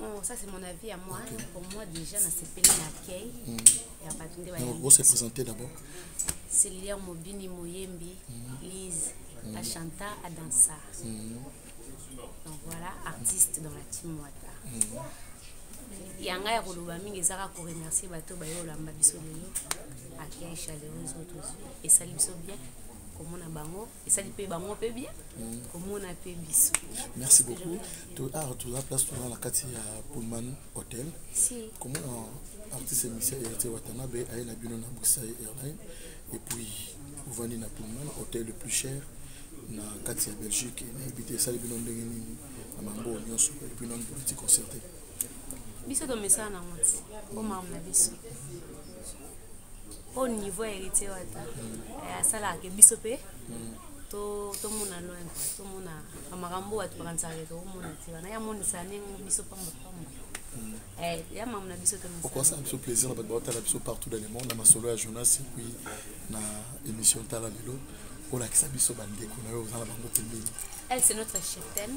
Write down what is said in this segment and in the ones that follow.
Oh, ça c'est mon avis à moi. Okay. Pour moi déjà, na sepeli na accueil. Mm. Ya batu nde ba. Vous se présenter d'abord. C'est Lilia Mobini Moyembi, mm. Lise, mm. Ashanta, Adansa. Mm. Donc voilà, artiste dans la team Wata. Mm. yanga ya koloba mingi eza kaka koremercie bato baye olamba biso lelo accueil chaleureuse oyo tozwi esali biso bien komona bango esali mpe bango mpe bien mm. komona mpe biso merci beaucoup toar toza place toza na kati ya pullman hotel komona artiste émission héritier watanabe aye na bino na bruxelles airline et puis ovandi na pullman hotel le plus cher na kati ya belgique nayebi te esali bino ndenge nini na bango nyonso epuis nani politike concerte biso tomesana nango ti bomama na biso au niveau ya héritier wata eh, asalaka ke biso mpe tomona loin tomona makambo oyo atopakanisaka ke tokomona ti wana ye amonisa ndenge biso pamba pamba Mm. Eh, ya mamu na biso okosala biso plaisir na bato baotala biso partout dans le monde na masolo ya jonas epuis na émission tala lelo olakisa biso bandeko na yo oza na bango pembeni elle c'est notre cheftaine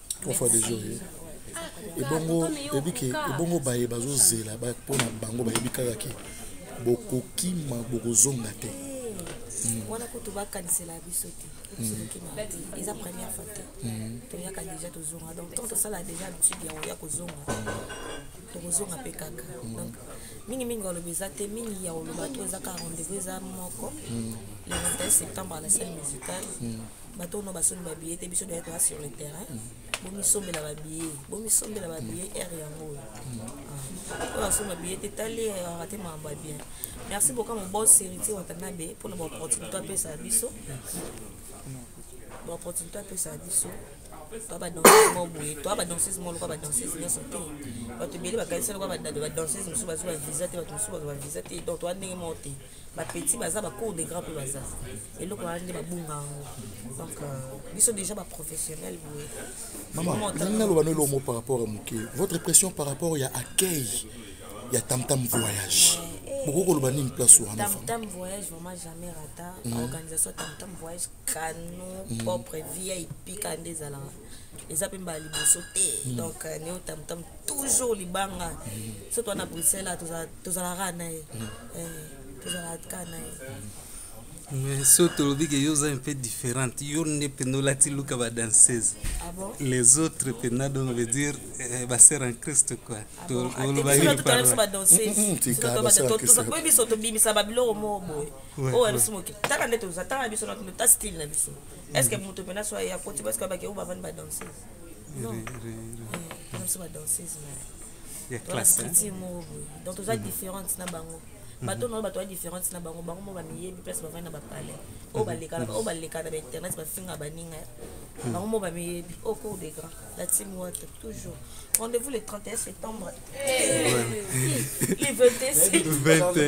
trois fois deux jours ebongo oyebi ke ebongo baye bazozela mpo na bango bayebi kaka ke bokokima bokozonga te hmm. wana kutu bakanisela biso te hmm. eza première fois te hmm. toyaka déjà tozonga donc tant tosala déjà habitude ya oya kozonga tokozonga mpe kaka donc mingimingi oloba eza te mingi ya oloba to eza kaka rendez-vous eza moko le 21 septembre à la salle musicale bato ono basombi babiye te biso toyaki toya sur le terrain bomisombela babiye bomisombela babiye ere yango oyo oyo asomba biye te tali ayaka te makambo ya bien merci boka mobos héritier watanabe mpona baopportunité apesa biso baopportunité apesa biso toa badanseuse moko boye toa badanseuse moko lokola badanseuse nyonso te bato ebele bakanisa lokola badanseuse mosusu bazwa visa te bato mosusu bazwa visa te donc toa ndenge moko te ba petit baza ba cours de grand mpe baza eloko wana nde babunga yango donc euh, biso déjà ba professionnel boye mama nani naloba no elomo par rapport ya moke votre pression par rapport ya accueil ya tamtam voyage bokoki koloba nini place wana tamtam voyage vraiment jamais rata mm. organisation tamtam voyage cano mm. propre vip kande ezalaka eza mpe mbala liboso te mm. donc euh, neo tamtam toujours libanga mm. soki wana bruxelles tozalaka na ye mm. eh, tozalaka na ye mais so tolobi ke yo oza un peu différente yo nde mpenza olati luka badanseuse ah bon? les autres mpenza donc veut dire eh, basere en christ quoi olobaibiso tobimisa babiloko moko boye oyo biso mokitaka nde toza tanga biso na style na biso est ce que moto mpena so aye akoti parce que abaki yango bavandi badanseuse non bana biso badanseuse mastriti moko boye donc toza différente na bango bato na oyo bato ya différente na bango bango mo bamiyebi place bavandi na bapalais oyo balekana oyo balekana ba internet bafinga baninga bango mo bamiyebi au cours des grands la team water toujours rendez-vous le 31 septembre le 21 septembre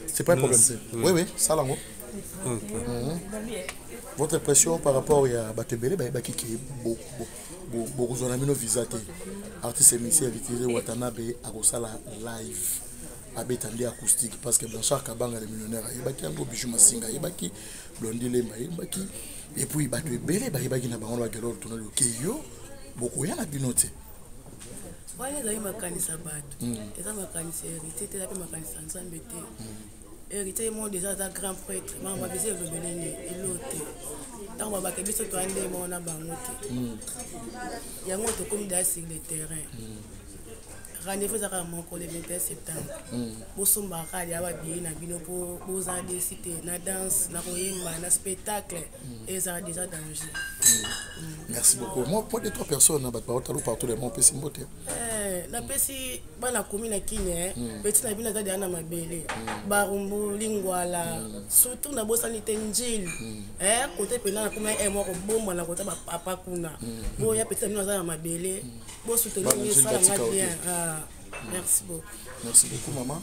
C'est pas un problème. Oui, oui, ça l'ango. Votre impression par rapport à Batebele, bah, bah, qui est beau, beau. bokozwa na bino visa te artiste émission vitise watanabe akosala live abeta nde acoustique parce que blanchard kabanga le millionnaire ayebaki yango bijou masinga ayebaki blondi lemba ayebaki epuis bato ebele bayebaki na bango na bagelor tonali okeyo okay, bokoya na bino te wana ezali makanisi ya bato mm. eza makanisi ya héritier te eza mpe makanisi ya nzambe te mm. héritier moko deja aza grand prêtre mama babisi elobeleni elo te ntango babake biso toya ndenge moko na bango te mm. yango tokomi deja sur le terrain rendez-vous ezaka ya moko le 21 septembre bosombaka ya babiye na bino mpo bozala desi te na danse na koyemba na spectacle ezala déjà danger merci beaucoup moi mpo de trois personnes na bato baotalo partout le monde opesi mbote eh, napesi bana komi na kine hmm. peti na bino aza deya na mabele hmm. barumbu lingwala hmm. surtout nabosani te njili eh, kote mpena nakomi na mwa kobomba na kota bapapa kuna boya peti na bino aza na mabele bosuteni esalanga bien ah, merci beaucoup merci beaucoup maman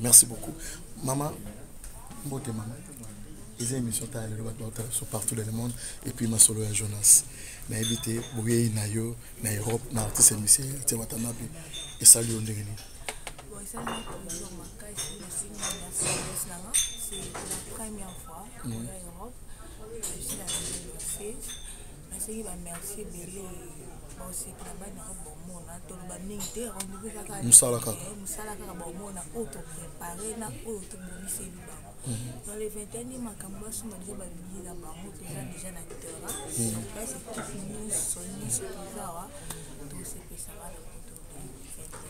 merci beaucoup mama mbote mama eza émission ta lelo bato bautala biso partout dans le monde et puis masolo ya jonas nayebi te boyei na yo na europe na artiste misie ete watanabe esali yo ndenge nini C'est la première fois en Europe. Je suis la nasengi ba merci ebele boseki na bana yango bomona toloba mingi te rendez-vous eza kaka mosala kaka eh, mosala kaka bomona oyo toprépare na oyo toboniseli bango mhm. dans le 21 ye makambo basomba deja babiye na bango toza mhm. deja na terrain mhm. place ekipe nyonso nyonso toza wa tosepesa bana poto 21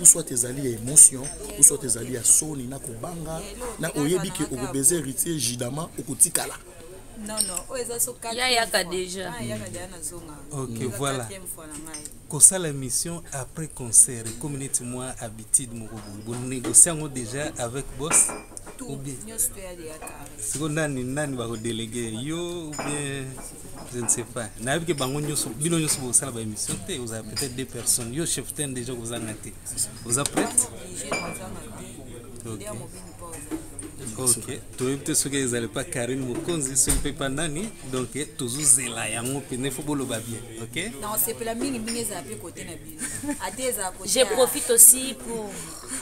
ou soit ezali ya émotion ou soit ezali ya soni na kobanga na oyebi ke okobeza héritier judama okotikala non non oyo eza so yayaka déjà ah, yaka déjà nazonga ok voilà kosala émission après concert ekomi neti mwa habitude moko boye bonégocie yango déjà avec boss sikoyo nani nani bakodelege yo ou bien je ne sais pas nayebi ke bango nyonso bino nyonso bokosala ba émission te ozala peut-être deux personnes yo chef ten déjà kozanga te oza prête okay. ok toyebi te soki ezali mpa karine mokonzi soki mpe mpa nani donc tozozela yango mpene fo boloba bien ok nasepela mingi mingi ezala mpe kote na bino ata ezala je profite aussi pour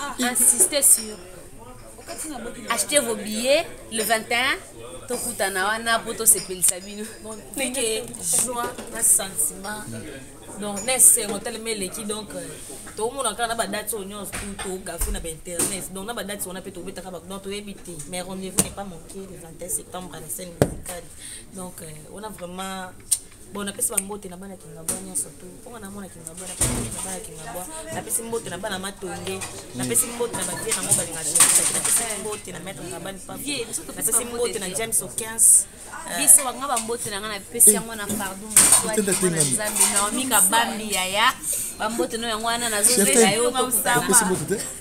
ah. insister sur achetez vos billets le 21 tokutana wana mpo tosepelisa bino ndenge joie na sentiment donc na esengo telema eleki donc euh, tokomona kaka na badati oyo nyonso tu togafe na bainternet donc na badati wana mpe tobetaka bato donc toyebi te mais rendez-vous n'est pas manqué le 21 septembre à la scène musicale donc euh, on a vraiment bon napesi bambote na bana kingabwa nyonso tu mponga na mwana kingabwa na bana kingabwa napesi mbote na bana matonge napesi mbote na bavie nango balinga josaki napesi mbote na maître ngabani papier napesi mbote na james okins euh, biso banga bambote na ngai napesi eh. yango na pardon nzambe naomi kabambi yaya bambote no yango wana nazozela yo tokutana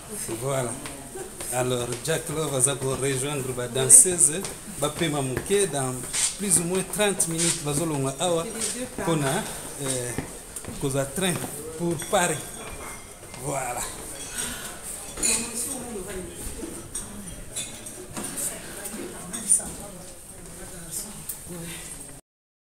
Voilà. Alors, Jack Love aza ko rejoindre ba danseuses ba pema muke dans plus ou moins 30 minutes bazolonga awa pona euh, koza train pour Paris. Voilà.